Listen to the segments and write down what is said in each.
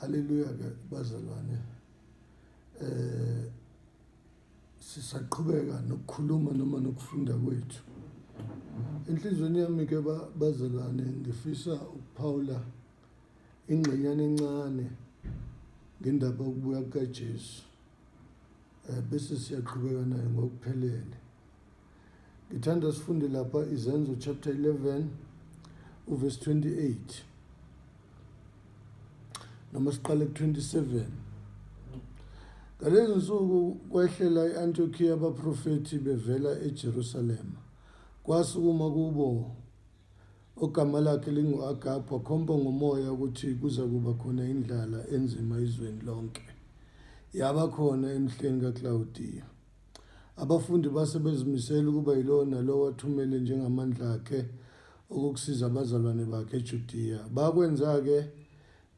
Haleluya ke bazalwane eh sisaqhubeka nokukhuluma noma nokufunda kwethu enhlizweni yami ke bazalwane ngifisa ukuphawula ingxenyana encane ngendaba yokubuya kukaJesu eh bese siyaqhubeka naye ngokuphelele ngithanda sifunde lapha izenzo chapter 11 uverse 28 noma siqale ku-27 ngalezi nsuku kwehlela i-antiokiya abaprofethi bevela ejerusalema kwasukuma kubo ogama lakhe lingu-agabha khomba ngomoya ukuthi kuza kuba khona indlala enzima izweni lonke yaba khona emhleni kaklawudiya Abafundi base bezimisele ukuba yilowo nalowo athumele njengamandla akhe okukusiza abazalwane bakhe eJudiya. Bakwenza-ke,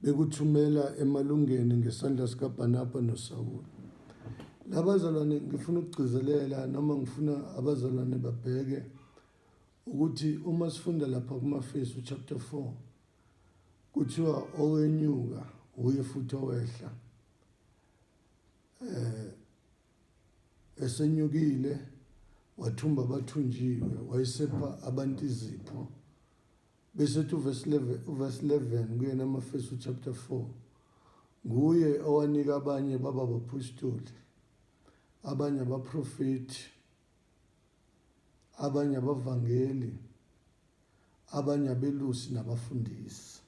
bekuthumela emalungeni ngesandla sikaBhanabha noSawule. La bazalwane ngifuna ukugcizelela noma ngifuna abazalwane babheke ukuthi uma sifunda lapha kumaFesu chapter 4 kuthiwa owenyuka wuye futhi owehla eh esenyukile wathumba abathunjiwe wayesepha abantu izipho bese ethi uvesi 11 kuyena amafesu chapter 4 nguye owanika abanye baba baphostoli abanye abaprofethi abanye abavangeli abanye abelusi nabafundisi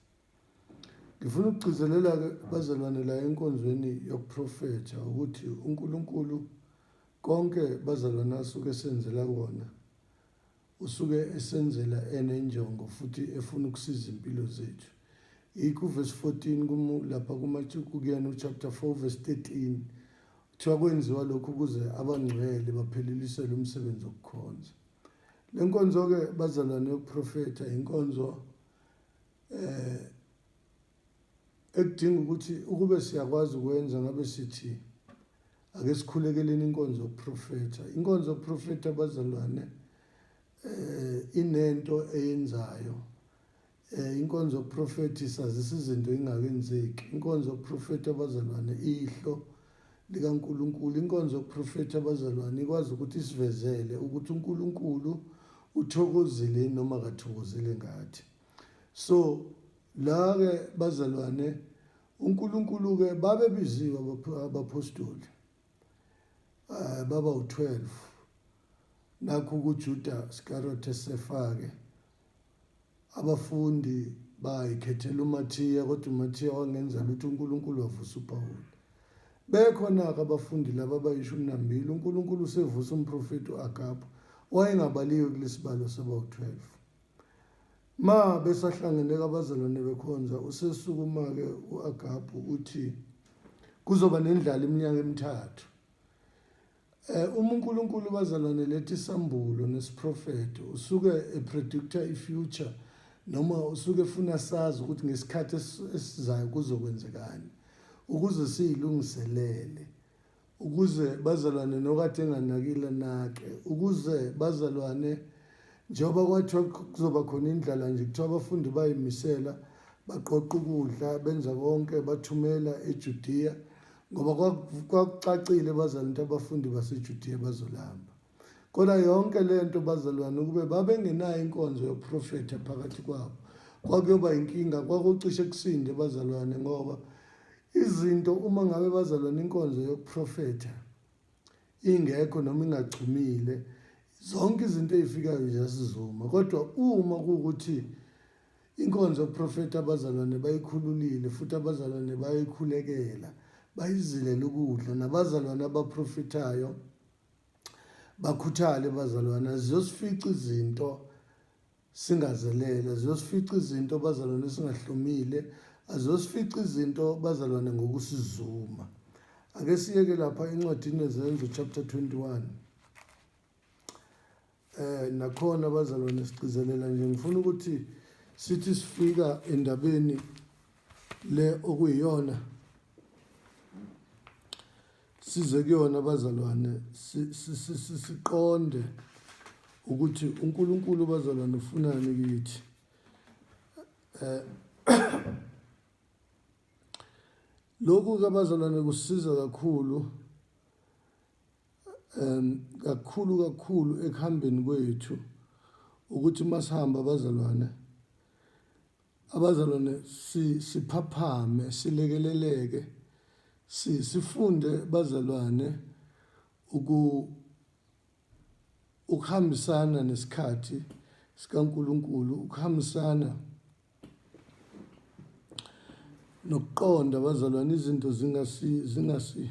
Ngifuna ukugcizelela-ke bazalwane la enkonzweni yokuprofetha ukuthi uNkulunkulu konke bazalwane asuke esenzela kona usuke esenzela enenjongo futhi efuna ukusiza impilo zethu yikho uvesi 14 lapha kumathukuyena uchapter 4 vesi 13 kuthiwa kwenziwa lokhu ukuze abangcwele baphelelisele umsebenzi wokukhonza le nkonzo-ke bazalwane yokuprofetha inkonzo eh ekudinga ukuthi ukube siyakwazi ukwenza ngabe sithi ake sikhulekeleni inkonzo yokuprofetha inkonzo yokuprofetha abazalwane eh inento eyenzayo eh inkonzo yokuprofetha isazisa izinto engakenzeki inkonzo yokuprofetha abazalwane ihlo likaNkulunkulu. Inkonzo yokuprofetha abazalwane ikwazi ukuthi isivezele ukuthi uNkulunkulu uthokozile noma kathokozile ngathi. So la ke bazalwane uNkulunkulu ke babebiziwe abaphostoli eh, baba u-12 nakho kuJuda Iscariot esefake Abafundi bayikhethela uMathiya, kodwa uMathiya wangenza lutho, uNkulunkulu wavusa uPawulu. Bekhona-ke abafundi laba abayishumi nambili, uNkulunkulu usevusa umprofethi u-Agabhu, wayengabaliwe kulesibalo sabawu-12. Ma besahlangene-ke abazalwane bekhonza, usesukuma-ke u-Agabhu uthi, Kuzoba nendlala iminyaka emithathu. Eh uma uNkulunkulu bazalwane lethi sambulo nesiprofeto usuke epredictor ifuture noma usuke efuna sazi ukuthi ngesikhathi esizayo kuzokwenzekani ukuze siyilungiselele ukuze bazalwane nokade enganakile nake ukuze bazalwane njengoba kwathiwa kuzoba khona indlala nje kuthiwa abafundi bayimisela baqoqa ukudla benza konke bathumela eJudiya ngoba kwakucacile bazalwane ukuthi abafundi basejudiya bazolamba kodwa yonke le nto bazalwane ukube babengenayo inkonzo yoprofetha phakathi kwabo kwakuyoba inkinga kwakucishe kusinde bazalwane ngoba izinto uma ngabe bazalwane inkonzo yokuprofetha ingekho noma ingachumile zonke izinto ezifikayo ziyasizuma kodwa uma kuwukuthi Inkonzo yoprofethi abazalwane bayikhululile futhi abazalwane bayayikhulekela, bayizilela ukudla. Nabazalwane abaprofethayo bakhuthale bazalwane, ziyosifica izinto singazelele, ziyosifica izinto bazalwane singahlomile, aziyosifica izinto bazalwane ngokusizuma. Ake siyeke lapha encwadini yeZenzo chapter 21. Eh nakhona abazalwane sigcizelela nje ngifuna ukuthi sithi sifika endabeni le okuyiyona size kuyona abazalwane siqonde ukuthi uNkulunkulu bazalwane ufunani kithi eh lokhu kabazalwane kusiza kakhulu um kakhulu kakhulu ekuhambeni kwethu ukuthi masihamba abazalwane abazalwane siphaphame silekeleleke sifunde bazalwane uku ukuhambisana nesikhathi sikaNkuluNkulu ukuhambisana nokuqonda bazalwane izinto zingasi zingasi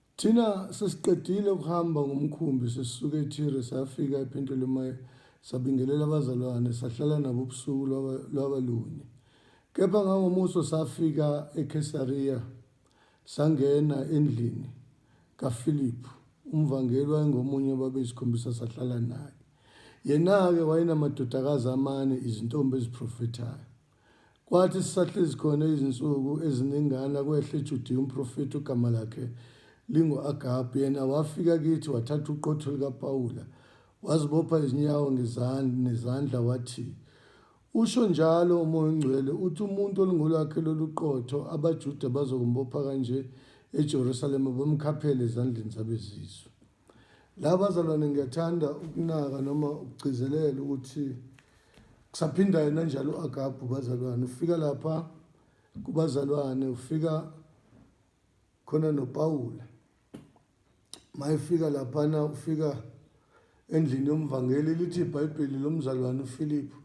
Thina sesiqedile ukuhamba ngomkhumbi sisuke eThire safika ePhentolemayi sabingelela abazalwane sahlala nabo ubusuku lwaba, lwaba lunye. Kepha ngangomuso safika eKhesariya sangena endlini kaFiliphu umvangeli wayengomunye wababeyisikhombisa sahlala naye. Yena-ke wayenamadodakazi amane izintombi eziprofethayo. Kwathi sisahlezi khona izinsuku eziningana, kwehla eJudiya umprofethi ogama lakhe lingu-Agabu, yena wafika kithi, wathatha uqotho likaPawula, wazibopha izinyawo ngezand- nezandla, wathi, Usho njalo uMoya oNgcwele, uthi umuntu olungolwakhe lolu qotho, abaJuda bazokumbopha kanje eJerusalema, bamkhaphele ezandleni zabezizwe. La bazalwane ngiyathanda ukunaka noma ukugcizelela ukuthi kusaphinda yena njalo u-agabhu bazalwane ufika lapha kubazalwane ufika khona nopawula mayefika laphana ufika endlini yomvangeli lithi ibhayibheli lomzalwane ufiliphu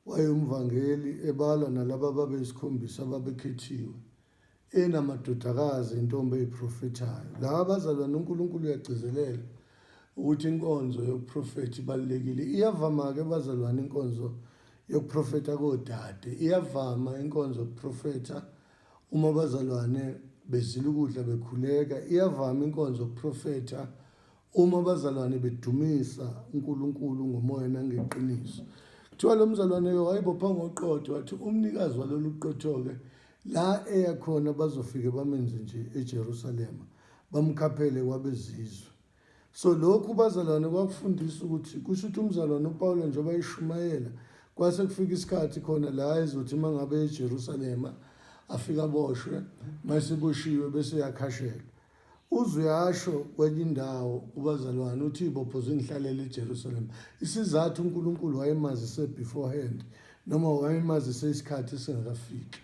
wayewumvangeli ebala nalaba babeyisikhombisa babekhethiwe enamadodakazi intombi eyiprofethayo. Laba abazalwane uNkulunkulu uyagcizelela ukuthi inkonzo yokuprofetha ibalulekile. Iyavama-ke abazalwane inkonzo yokuprofetha kodade. Iyavama inkonzo yokuprofetha uma abazalwane bezila ukudla bekhuleka. Iyavama inkonzo yokuprofetha Uma abazalwane bedumisa uNkulunkulu ngomoya nangeqiniso. Kuthiwa lo mzalwane-ke wayebopha ngoqotho wathi umnikazi walolu qotho-ke la eya khona bazofike bamenze nje eJerusalema bamkhaphele kwabezizwe. So lokhu bazalwane kwakufundisa ukuthi kusho ukuthi umzalwane uPawula njengoba ayishumayela kwase kufika isikhathi khona la ezothi uma ngabe eJerusalema afika aboshwe, uma eseboshiwe bese uyakhashelwa. Uzuyasho kwenye indawo uBazalwane uthi ibopho zingihlalela eJerusalem. Isizathu uNkulunkulu wayemazise beforehand noma wayemazise isikhathi singakafiki.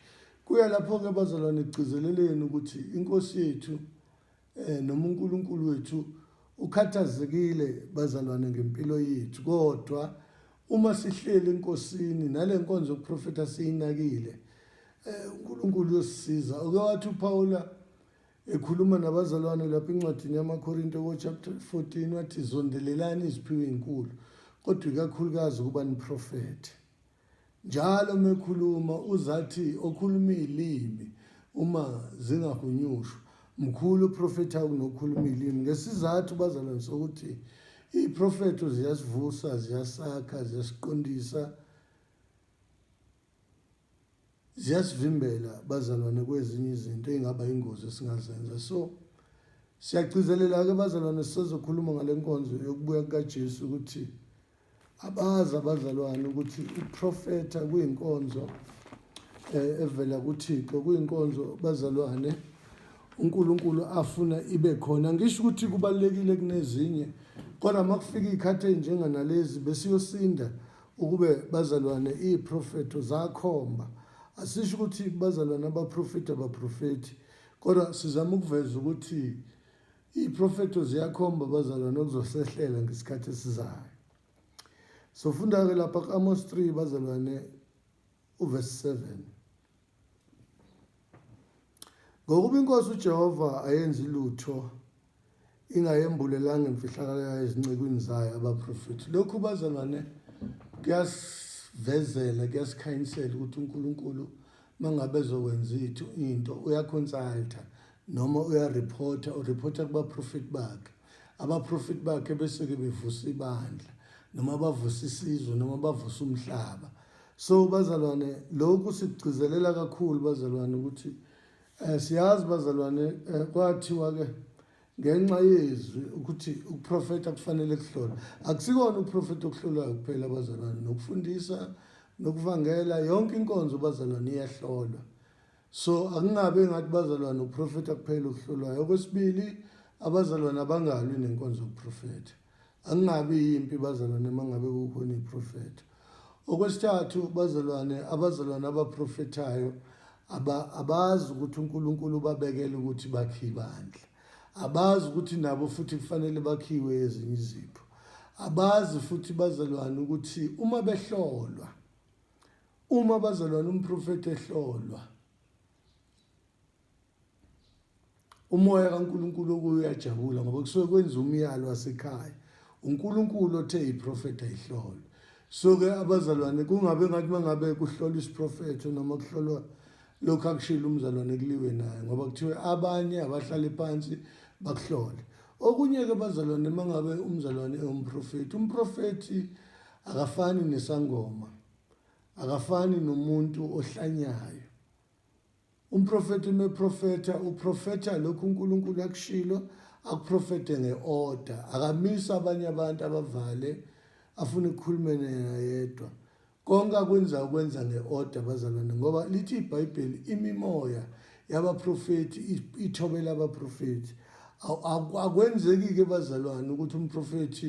Kuya lapho-ke bazalwane kugcizeleleni ukuthi inkosi yethu um noma uNkulunkulu wethu ukhathazekile bazalwane ngempilo yethu kodwa uma sihleli enkosini nale nkonzo yokuprofetha siyinakile um uNkulunkulu uyosisiza oke wathi uPawula Ekhuluma nabazalwane lapha encwadini yamaKorinte kochapter 14 wathi zondelelani iziphiwo ezinkulu kodwa ikakhulukazi ukuba niprofethe. Njalo mekhuluma uzathi okhuluma izilimi uma zingahunyushwa mkhulu uprofetha kunokhuluma izilimi ngesizathu bazalwane sokuthi iprofetho ziyasivusa ziyasakha ziyasiqondisa ziyasivimbela bazalwane kwezinye izinto ey'ngaba yingozi esingazenza so siyagcizelela-ke bazalwane sisazokhuluma ngale nkonzo yokubuya kukajesu ukuthi abazi abazalwane ukuthi uprofetha kuyinkonzo um evela kuthixo kuyinkonzo bazalwane unkulunkulu afuna ibe khona ngisho ukuthi kubalulekile kunezinye kodwa uma kufika iy'khathi ey'njenganalezi besiyosinda Ukube, bazalwane, iyiprofetho zakhomba, asisho ukuthi bazalwane abaprofethi abaprofethi, kodwa sizama ukuveza ukuthi iyiprofetho ziyakhomba bazalwane okuzosehlela ngesikhathi esizayo. Sofunda-ke lapha ku-Amos 3 bazalwane uverse 7. Ngokuba iNkosi uJehova ayenzi lutho ingayembulelanga imfihlakalo yayo ezincekwini zayo abaprofethi. Lokhu bazalwane kuyasivezela kuyasikhanyisela ukuthi uNkulunkulu mangabe ezokwenza ithu into uyaconsulta noma uyareporta ureporta kubaprofethi bakhe abaprofethi bakhe bese-ke bevusa ibandla noma bavusa isizwe noma bavusa umhlaba so bazalwane lokhu sikugcizelela kakhulu bazalwane ukuthi um siyazi bazalwane um kwathiwa-ke ngenxa yezwi ukuthi ukuprofetha kufanele kuhlolwa akusikona ukuprofetha okuhlolwayo kuphela abazalwane nokufundisa nokuvangela yonke inkonzo bazalwane iyahlolwa so akungabe ngathi bazalwane ukuprofetha kuphela okuhlolwayo okwesibili abazalwane abangalwi nenkonzo yokuprofetha angingabi yimpi bazalwane mangabe kukhona iprofetho okwesithathu bazalwane abazalwane abaprofethayo abazi ukuthi uNkulunkulu ubabekele ukuthi bakhiwe bandla abazi ukuthi nabo futhi kufanele bakhiwe ezinye izipho abazi futhi bazalwane ukuthi uma behlolwa uma bazalwane umprofethi ehlolwa umoya kaNkulunkulu okuyo uyajabula ngoba kusuke kwenza umyalo wasekhaya uNkulunkulu othe iprofetha ihlolwe soke abazalwane kungabe ngathi mangabe kuhlolwa isiprofetho noma kuhlolwa lokhu akushilo umzalwane kuliwe naye ngoba kuthiwe abanye abahlale phansi bakuhlole okunye-ke bazalwane mangabe umzalwane ewumprofethi umprofethi akafani nesangoma akafani nomuntu ohlanyayo Umprofethi uma eprofetha uprofetha lokhu uNkulunkulu akushilo akuprofethe nge-order akamisa abanye abantu abavale afune ukukhulume yena yedwa konke akwenza ukwenza nge-order bazalwane ngoba lithi ibhayibheli imimoya yabaprofethi ithobela abaprofethi akwenzeki-ke bazalwane ukuthi umprofethi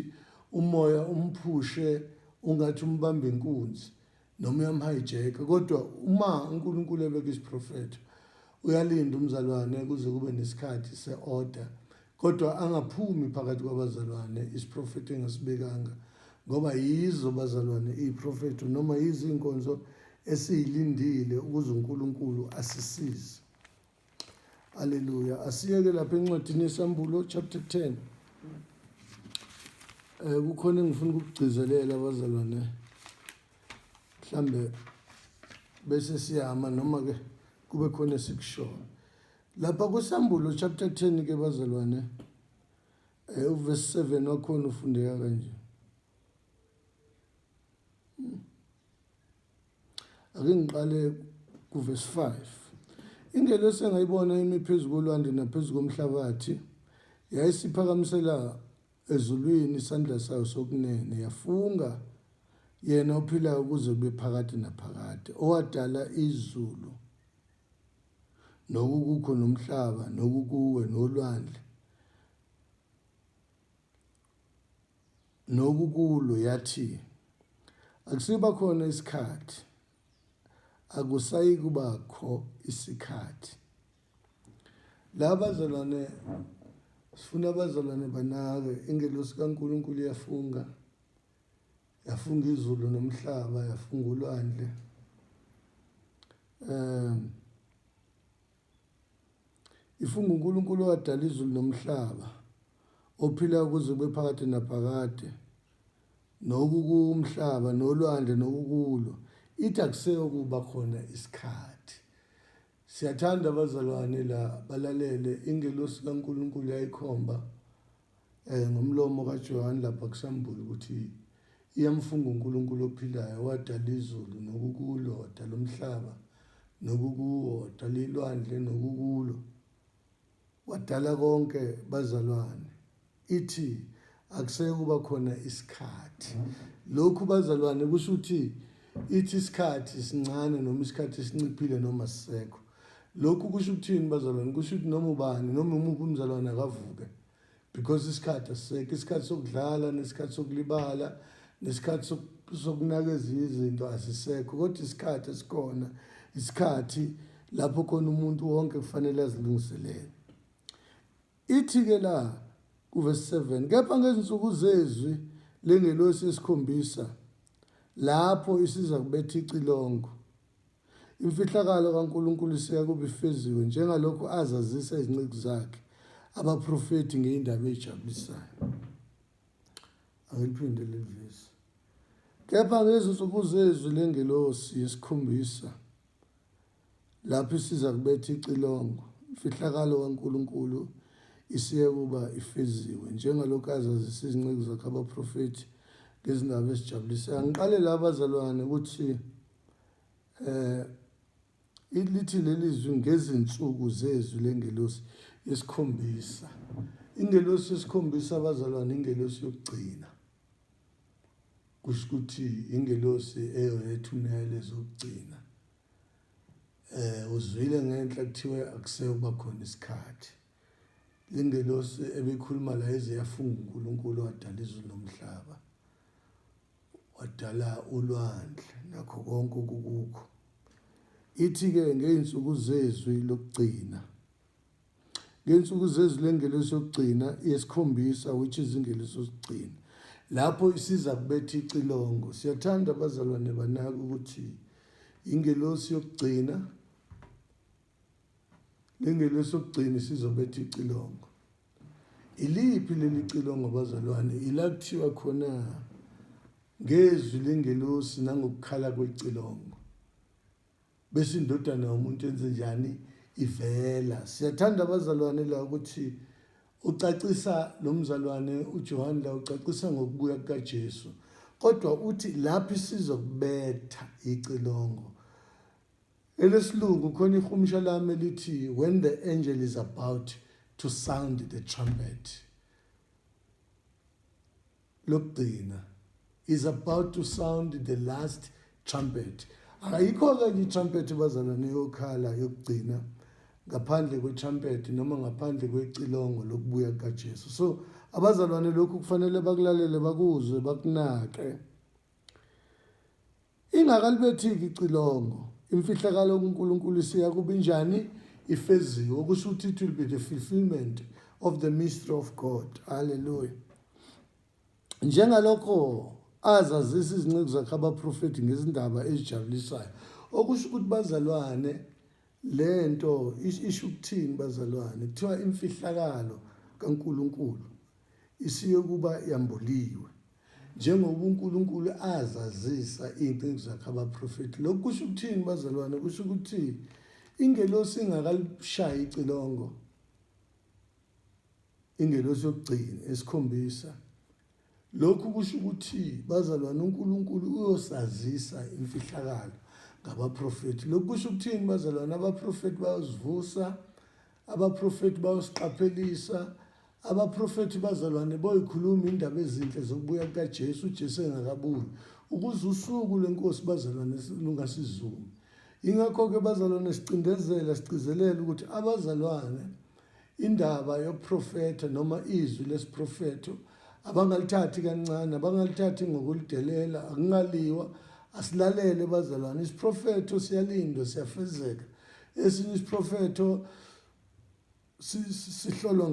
umoya umphushe ungathi umbamba inkunzi noma uyamhayijeka kodwa uma uNkulunkulu ebeka isiprofetho uyalinda umzalwane kuze kube nesikhathi se-order kodwa angaphumi phakathi kwabazalwane isiprofetho engasibekanga ngoba yizo bazalwane iprofetho noma yizinkonzo esiyilindile ukuze uNkulunkulu asisize Haleluya. Asiyeke lapha encwadini yeSambulo chapter 10. Eh kukhona engifuna ukugcizelela abazalwane. Mhlambe bese siyama noma ke kube khona esikushoyo. Lapha kuSambulo chapter 10 ke bazalwane eh uverse 7 wakhona ufundeka kanje. Ake ngiqale kuvesi 5. Ingelosi engayibona imi phezu kolwandle naphezu komhlabathi yayisiphakamisela ezulwini isandla sayo sokunene yafunga yena ophilayo ukuze kube phakade naphakade owadala izulu nokukukho nomhlaba nokukuwe nolwandle nokukulo yathi akusiba khona isikhathi akusayikuba kho isikhathi laba zalwane sifuna abazalwane banake ingelosi kaNkuluNkulu iyafunga yafunga izulu nomhlaba yafunga ulwandle um If unguNkulunkulu owadala izulu nomhlaba ophilayo kuze kube phakade naphakade nokukumhlaba nolwandle nokukulo ithi akuseyo kuba khona isikhathi siyathanda abazalwane la balalele ingelosi kaNkulunkulu yayikhomba Eh ngomlomo kaJohane lapha kusambula ukuthi iyamfunga uNkulunkulu ophilayo wadala izulu nokukulo wadala umhlaba nokukuwo wadala ilwandle nokukulo wadala konke bazalwane ithi akuseke kuba khona isikhathi lokhu bazalwane kusho ukuthi ithi isikhathi sincane noma isikhathi sinciphile noma sisekho lokhu kusho ukuthini bazalwane kusho ukuthi noma ubani noma umuphi umzalwane akavuke because isikhathi asisekho isikhathi sokudlala nesikhathi sokulibala nesikhathi sokunaka ezinye izinto asisekho kodwa isikhathi esikhona isikhathi lapho khona umuntu wonke kufanele azilungiselele ithi-ke la kuvesi 7 kepha ngezinsuku zezwi lengelosi esikhombisa lapho isiza kubetha icilongo Imfihlakalo kaNkulunkulu isiya kube ifeziwe njengalokhu azazisa izinceku zakhe abaprofethi ngeindaba ezijabulisayo. Angiphinde levesi. Kepha ngezinsuku zezwi lengelosi yesikhombisa lapho isiza kubetha icilongo imfihlakalo kaNkulunkulu isiye kuba ifeziwe njengalokhu azazisa izinceku zakhe abaprofethi ngezindaba ezijabulisayo. Ngiqale la bazalwane ukuthi eh lithi leli zwi ngezinsuku zezwi lengelosi yesikhombisa ingelosi yesikhombisa abazalwane ingelosi yokugcina kusho ukuthi ingelosi eyona ethumele zokugcina eh uzwile ngenhla kuthiwe akuseyo kuba khona isikhathi lengelosi ebekhuluma la eze yafunga uNkulunkulu wadala izulu nomhlaba wadala ulwandle nakho konke okukukho ithi-ke ngey'nsuku zezwi lokugcina ngey'nsuku zezwi lengelosi yokugcina yesikhombisa which is ingelosi yokugcina lapho isiza kubetha icilongo siyathanda abazalwane banaka ukuthi ingelosi yokugcina Lingelesokugcina isizobetha icilongo. Iliphi leli cilongo bazalwane? Ila kuthiwa khona ngezwi lengelosi nangokukhala kwecilongo. Bese indodana yomuntu enze njani? Ivela. Siyathanda abazalwane la ukuthi ucacisa lo mzalwane uJohane la ucacisa ngokubuya kukaJesu. Kodwa uthi lapho isizokubetha icilongo Elesilungu khona ihumsha lami elithi when the angel is about to sound the trumpet. Lokugcina is about to sound the last trumpet. Ayikho ke nje trumpet bazalwane yokhala yokugcina ngaphandle kwe trumpet noma ngaphandle kwecilongo lokubuya kukaJesu. So abazalwane lokhu kufanele bakulalele bakuzwe bakunake. Ingakalibethiki icilongo, imfihlakalo kuNkulunkulu isiya kubinjani? Ifeziwe, okusho ukuthi it will be the fulfillment of the mystery of God. Hallelujah. Njengalokho azazisa izinceku zakhe abaprofethi ngezindaba ezijabulisayo, okusho ukuthi bazalwane Lento isho ukuthini bazalwane? Kuthiwa imfihlakalo kaNkulunkulu isiyokuba yambuliwe njengoba uNkulunkulu azazisa iy'ncinci zakhe abaprofethi. Lokhu kusho ukuthini bazalwane? Kusho ukuthi ingelosi ingakalishayi icilongo ingelosi yokugcina esikhombisa Lokhu kusho ukuthi, bazalwane, uNkulunkulu uyosazisa imfihlakalo ngabaprofethi. Lokhu kusho ukuthini, bazalwane? Abaprofethi bayosivusa, abaprofethi bayosiqaphelisa, abaprofethi bazalwane boyikhuluma indaba ezinhle zokubuya kukaJesu uJesu engakabuyi ukuze usuku lwenkosi bazalwane lungasizumi ingakho-ke bazalwane sicindezela sigcizelela ukuthi abazalwane Indaba yoprofetho noma izwi lesiprofetho abangalithathi kancane abangalithathi ngokulidelela akungaliwa asilalele bazalwane isiprofetho siyalindwa siyafezeka esinye isiprofetho sihlolwa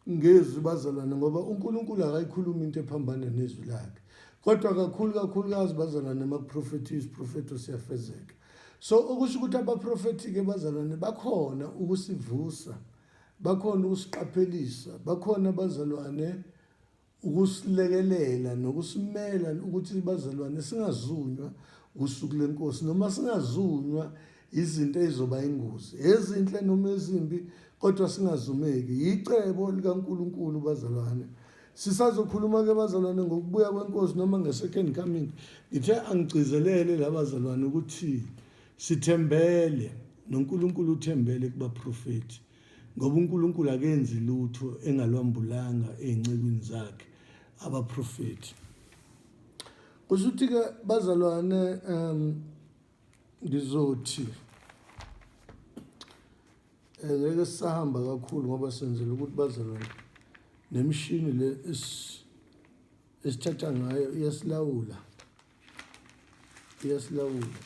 ngezwi bazalwane ngoba uNkulunkulu akayikhulumi into ephambana nezwi lakhe kodwa kakhulu kakhulukazi bazalwane makuprofethiwe isiprofetho siyafezeka so okusho ukuthi abaprofethi-ke bazalwane bakhona ukusivusa bakhona ukusiqaphelisa bakhona bazalwane ukusilekelela nokusimela ukuthi bazalwane singazunywa usuku lenkosi noma singazunywa izinto ezizoba ingozi ezinhle noma ezimbi kodwa singazumeki yicebo likaNkuluNkulu bazalwane Sisazokhuluma ke bazalwane ngokubuya kwenkosi noma nge-second coming ngithe angigcizelele labazalwane ukuthi sithembele noNkulunkulu uthembele kubaprofethi ngoba uNkulunkulu akenzi lutho engalwambulanga ezincekwini zakhe abaprofethi kusho ukuthi ke bazalwane um ngizothi Eh, ngeke sisahamba kakhulu ngoba senzela ukuthi bazalwane nemishini le esithatha ngayo iyasilawula iyasilawula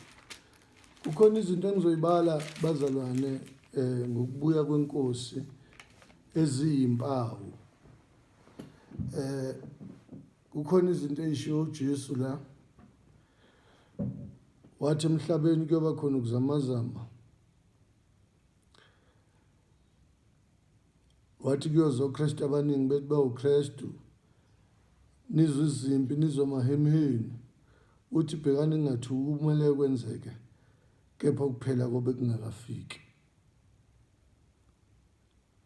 kukhona izinto engizoyibala bazalwane um ngokubuya kwenkosi eziyimpawu um kukhona izinto eyishiwo ujesu la wathi emhlabeni kuyoba khona ukuzamazama wathi kuyozoKristu abaningi bethi bawuKristu nizwe izimpi nizwe amahemheni uthi bhekani ngathuki kumele kwenzeke kepha ukuphela kobe kungakafiki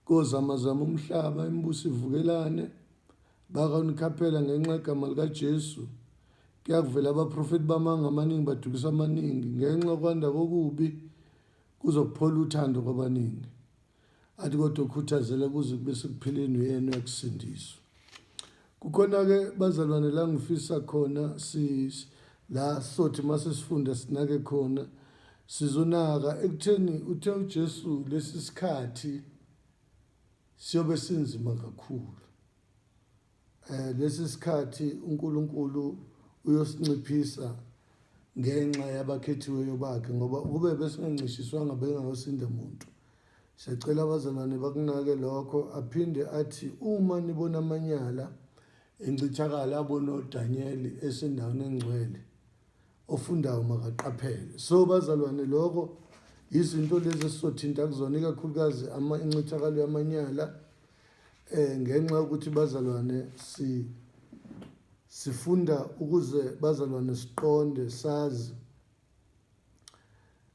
Kozamazama umhlaba, imibuso ivukelane, bakanikhaphela ngenxa yegama likaJesu. Kuyakuvela abaprofethi bamanga amaningi badukisa amaningi ngenxa kwanda kokubi kuzokuphola uthando kwabaningi athi kodwa ukhuthazela kuze kube sekuphileni uyena uyakusindiswa Kukhona ke bazalwane la ngifisa khona si la sothi mase sifunda sinake khona sizonaka ekutheni uthe uJesu lesi sikhathi siyobe sinzima kakhulu eh lesi sikhathi uNkulunkulu uyosinciphisa ngenxa yabakhethiweyo bakhe ngoba ukube besingancishiswanga bengayosinda umuntu Siyacela abazalwane bakunake lokho aphinde athi uma nibona amanyala encithakala abona uDanyeli esendaweni engcwele ofundayo makaqaphele so bazalwane lokho izinto lezi esizothinta kuzona ikakhulukazi incithakalo yamanyala eh ngenxa yokuthi bazalwane si sifunda ukuze bazalwane siqonde sazi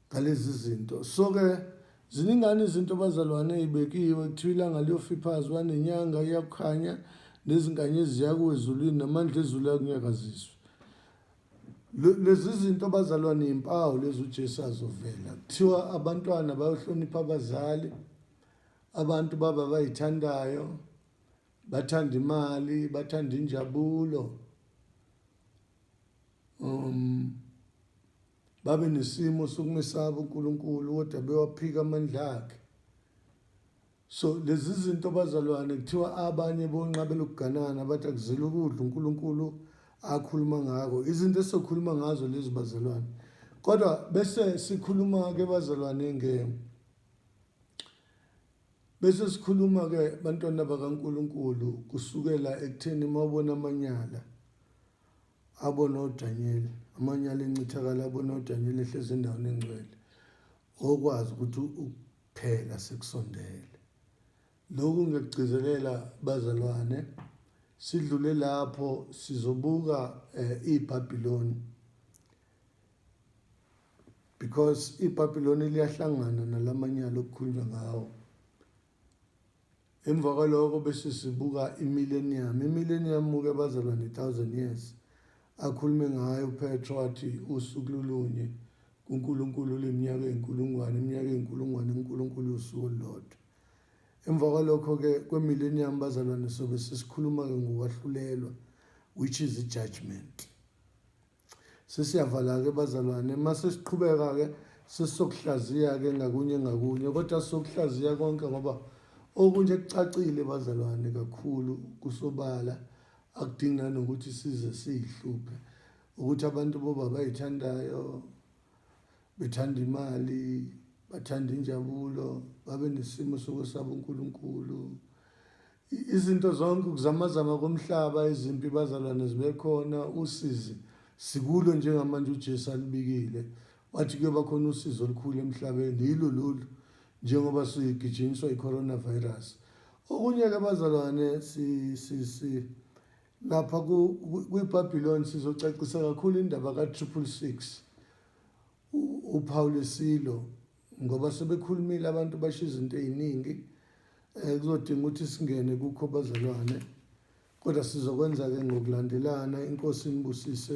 ngalezi zinto so ke ziningani izinto abazalwane ezibekiwe kuthiwa ilanga liyofiphazwa nenyanga iyakukhanya nezinganye eziyakuwe ezulwini namandla ezulu akunyakaziswe lezi zinto abazalwane yimpawu lezi uJesu azovela kuthiwa abantwana bayohlonipha abazali abantu baba bayithandayo bathanda imali bathanda injabulo um babe nesimo sokumesaba uNkulunkulu kodwa bewaphika amandla akhe so lezi zinto bazalwane kuthiwa abanye bonqabe lokuganana bathi akuzile ukudla uNkulunkulu akhuluma ngako izinto esokhuluma ngazo lezi bazalwane kodwa bese sikhuluma ke bazalwane nge Bese sikhuluma ke bantwana bakaNkulunkulu kusukela ekutheni mawubona amanyala abona uDaniel amanyala encithakala abona uDaniel ehlezi endaweni engcwele okwazi ukuthi ukuphela sekusondele lokhu ngekugcizelela bazalwane sidlule lapho sizobuka eh, iBabiloni because iBabiloni liyahlangana nalamanyala okukhulunywa ngawo emva kwaloko bese sibuka imillennium imillennium muke bazalwa ne-thousand years akhulume ngayo upetro athi usuku lulunye kunkulunkulu leminyaka eyinkulungwane iminyaka eyinkulungwane unkulunkulu usuku olulodwa emva kwalokho-ke kwemillennium bazalwane sobe sesikhuluma-ke ngokwahlulelwa which is i-judgment Sesiyavala-ke bazalwane uma sesiqhubeka-ke sesizokuhlaziya-ke ngakunye ngakunye kodwa sizokuhlaziya konke ngoba okunje kucacile bazalwane kakhulu kusobala akudingi nanokuthi size siyihluphe ukuthi abantu boba bayithandayo bethanda imali bathanda injabulo babe nesimo sokwesaba uNkulunkulu Izinto zonke ukuzamazama komhlaba izimpi bazalwane zibekhona usizi sikulo njengamanje uJesu alibikile wathi kuyoba khona usizo olukhulu emhlabeni yilo lolu njengoba sigijinyiswa i-coronavirus okunye-ke bazalwane lapha kwibhabhiloni sizocacisa kakhulu indaba ka-triple six upawulisilo ngoba sebekhulumile abantu basho izinto eziningi eh kuzodinga ukuthi singene kukho bazalwane kodwa sizokwenza ke ngokulandelana inkosi inibusise